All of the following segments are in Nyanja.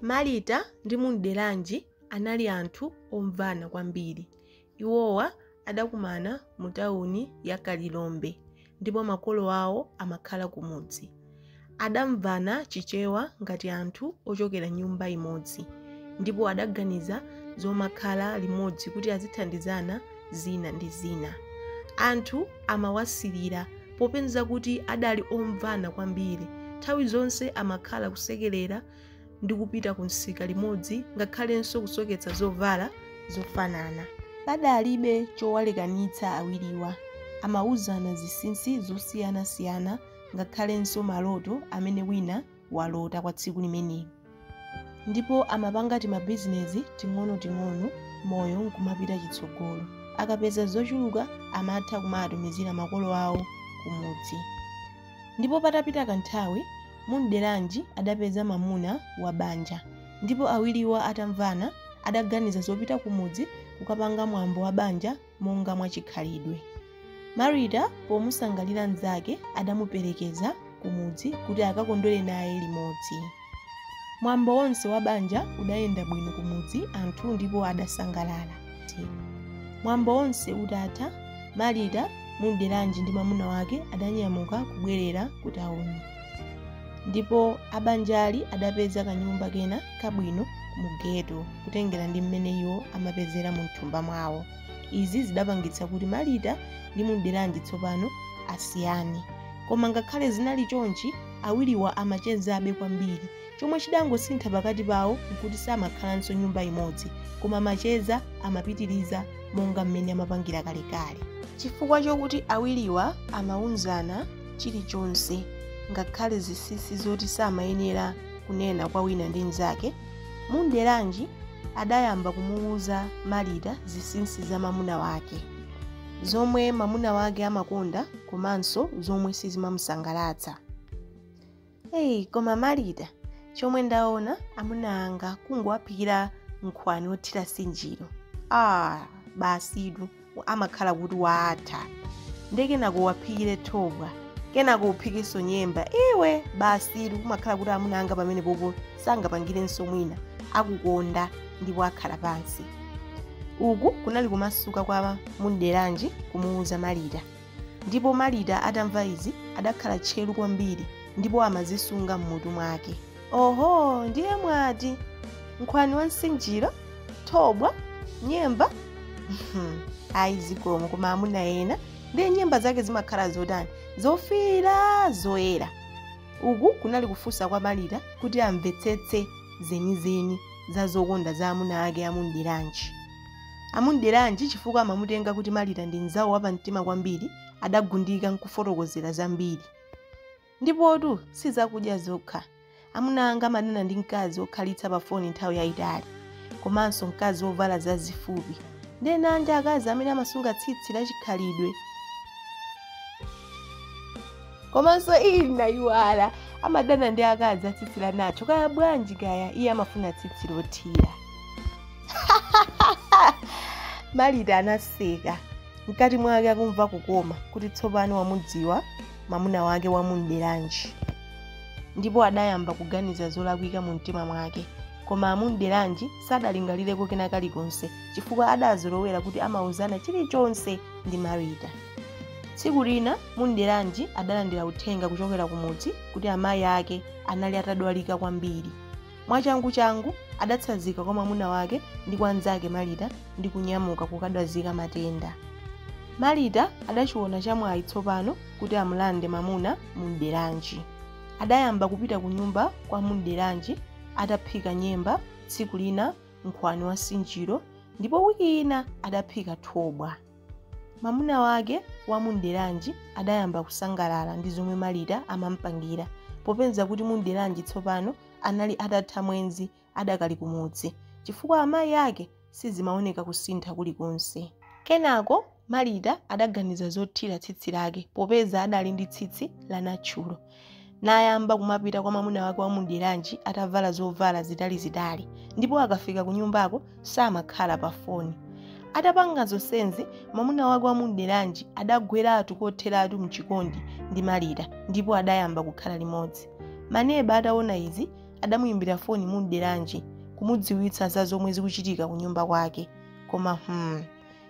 Marita ndi Munderanji anali anthu omvana kwambiri. Iwowa adakumana mu tauni ya Kalilombe ndipo makolo awo amakhala kumudzi. Adamvana Chichewa ngati anthu ochokera nyumba imodzi ndipo adaganiza zomakhala limodzi kuti azithandizana zina ndi zina. Anthu amawasirira popeza kuti adali omvana kwambiri. Nthawi zonse amakhala kusekerera ndi kupita ku msika limodzi ngakhalenso kusoketsa zovala zofanana. Padalibe chowalekanitsa awiriwa. Amauzana zinsinsi zosiyanasiyana ngakhalenso maloto amene wina walota kwa tsiku limeneli ndipo amapanga timabizinezi ting'onoting'ono moyo nkumapita chitsogolo akapeza zochuluka amatha kumatumizira makolo awo kumudzi ndipo patapita kanthawi Munderanji adapeza mamuna wa banja ndipo awiriwa atamvana adaganiza zopita kumudzi kukapanga mwambo wa banja monga mwa chikhalidwe. Marita pomusangalira mnzake adamuperekeza kumudzi kuti akakondwere naye limodzi. Mwambo wonse wa banja udayenda bwino kumudzi anthu ndipo adasangalala. Mwambo wonse utatha, Marita, Munderanji ndi mamuna wake adanyamuka kubwerera kutauni. ndipo abanjali adapeza kanyumba kena kabwino mu geto kutengera ndi mmene iwo amapezera mu mthumba mwawo izi zidapangitsa kuti marita ndi munderanji tsopano asiyane koma ngakhale zinali chonchi awiriwa amachezabe kwambiri chomwe chidangosintha pakati pawo nkuti samakhalanso nyumba imodzi koma macheza amapitiriza monga mmene amapangira kalekale chifukwa chokuti awiriwa amauzana chilichonse ngakhale zinsinsi zoti samayenera kunena kwa wina ndi mnzake munderanji adayamba kumuwuza marita zinsinsi za mamuna wake zomwe mamuna wake amakonda komanso zomwe sizimamusangalatsa Hey, koma Marita, chomwe ndaona amuna anga kungowaphikira nkhwani wothira nsinjiro. Ah, basitu amakhala kuti waatha. Nde kenako uwaphikire thobwa, kenako uphikenso nyemba. Iwe basitu kumakhala kuti amuna anga pamenepopo sangapangirenso mwina, akukonda ndipo akhala pansi. Uku kunali kumasuka kwa Munderanji kumuuza Marita. Ndipo Marita atamva izi, adakhala tcheru kwambiri, ndipo amazisunga m'mutu mwake. Oho, ndiye mwati, nkhwani wa nsinjiro? Thobwa? Nyemba? Ayi zikomo, koma amuna ena, ndiye nyemba zake zimakhala zotani? Zofiira, zoyera. Uku kunali kufunsa kwa Marita kuti amvetsetse zenizeni za zokonda za amuna ake a Mumderanji. A Mumderanji chifukwa amamutenga kuti Marita ndi mnzawo wapamtima kwambiri, adagundika n'kufotokozera zambiri. Ndipotu si zakudya zokha. Amuna anga amadana ndi mkazi wokhalitsa pafoni nthawi yaitali, komanso mkazi wovala zazifupi. Ndiye nanji akazi amene amasunga tsitsi lachikhalidwe. Komanso ii nayiwala, amadana ndi akazi a tsitsi la nacho. Kaya bwanji kaya, iye amafuna tsitsi lothira. marita anaseka mkati mwake akumva kukoma kuti tsopano wamudziwa mamuna wake wa mumderanji ndipo adayamba kuganiza zolakwika mu mtima mwake koma a mumderanji sadalingalireko kena kalikonse chifukwa adazolowera kuti amauzana chilichonse ndi marita tsiku lina mumderanji adalandira uthenga kuchokera kumudzi kuti amayi ake anali atadwalika kwambiri Mwachanguchangu adatsanzika kwa mwamuna wake ndi kwa mnzake Marita ndi kunyamuka kukadwazika matenda. Marita adachiona chamwayi tsopano kuti amulande mamuna Mumderanji. Adayamba kupita kunyumba kwa Mumderanji ataphika nyemba, tsiku lina nkhwani wa nsinjiro, ndipo wiki ina adaphika thobwa. Mamuna wake wa Mumderanji adayamba kusangalala ndi zomwe Marita amampangira popeza kuti Mumderanji tsopano anali atatha mwenzi adakali kumudzi chifukwa amayi ake sizimaoneka kusintha kulikonse. Kenako Marita adaganiza zothira tsitsi lake popeza adali ndi tsitsi la natchulo. nayamba kumapita kwa mamuna wake wa mumderanji atavala zovala zitalizitali ndipo akafika ku nyumbako samakhala pa foni atapanga zonsenzi mamuna wake wa mumderanji adagweratu kotheratu mchikondi ndi marita ndipo adayamba kukhala limodzi maneba ataona izi adamuyimbira foni mumderanji kumudziwitsa za zomwe zikuchitika ku nyumba kwake koma hmm,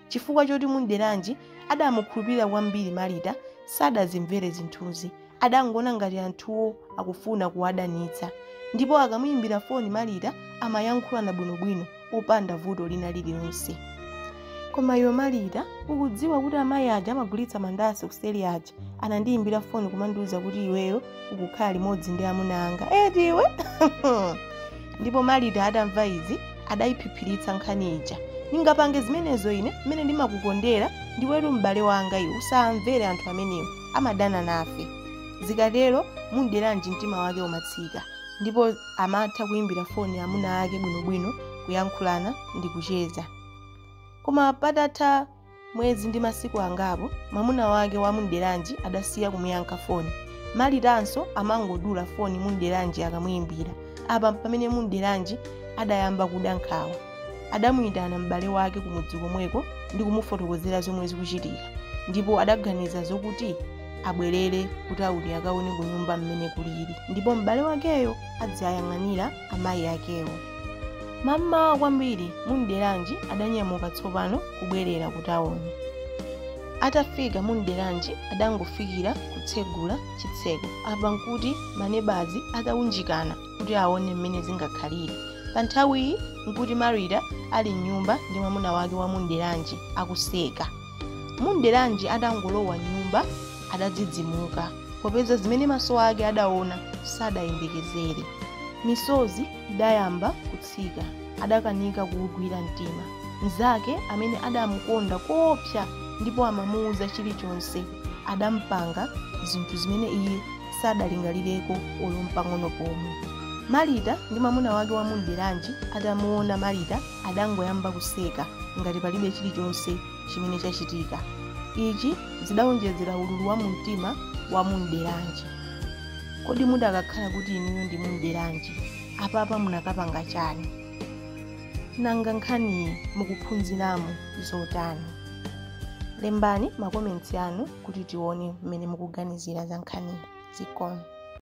Chifukwa choti Mumderanji adamukhulupirira kwambiri Marita sadazimvere zinthuzi. Adangoona ngati anthuwo akufuna kuwadanitsa. Ndipo akamuyimbira foni Marita amayankhulana bwinobwino opanda vuto lina lililonse. Koma iwe Marita, ukudziwa kuti amayi aja amagulitsa mandasi kuseri aja? anandiyimbira foni kumandiwuza kuti iweyo ukukhala limodzi ndi amuna anga eti iwe ndipo marita atamva izi adayiphiphiritsa nkhani ija ndingapange zimenezo ine mmene ndimakukondera ndiwetu m'bale wanga iwe usamvere anthu amenewo amadana nafe zikatero munderanji mtima wake umatsika ndipo amatha kuyimbira foni amuna ake bwinobwino kuyankhulana ndi kucheza koma patatha mwezi ndi masiku angapo mwamuna wake wa munderanji adasiya kumuyankha foni maritanso amangodula foni munderanji akamuyimbira apa pamene munderanji adayamba kuda nkhawa adamuyitana m'bale wake kumudzi komweko ndi kumufotokozera zomwe zikuchitika ndipo adaganiza zokuti abwerere kutawuni akaone kunyumba mmene kulili ndipo m'bale wakeyo aziwayang'anira amayi akewo mammawa kwambiri munderanji adanyamuka tsopano kubwerera ku tawuni atafika munderanji adangofikira kutsegula chitseko apa nkuti manebazi ataunjikana kuti aone mmene zingakhalire pa nthawiyi nkuti marita ali mnyumba ndi mwamuna wake wa munderanji akuseka Munderanji atangolowa m'nyumba adadzidzimuka popeza zimene maso ake adaona sadayembekezere. Misozi idayamba kutsika. Adakanika kuugwira mtima. Mnzake amene adamukonda koopsa ndipo amamuuza chilichonse adampanga zinthu zimene iye sadalingalireko olo mpang'ono pomwe. Marita ndi mwamuna wake wa Munderanji atamuona Marita adangoyamba kuseka ngati palibe chilichonse chimene chachitika. Ichi zidaonjezera ululu wa mumtima wa Munderanji. Kodi mudakakhala kuti inuyo ndi Munderanji, apapa munakapanga chani? Nanga nkhaniyi mukuphunziramo zotani? Lembani makomentsi anu kuti tione mmene mukuganizira za nkhaniyi. Zikomo.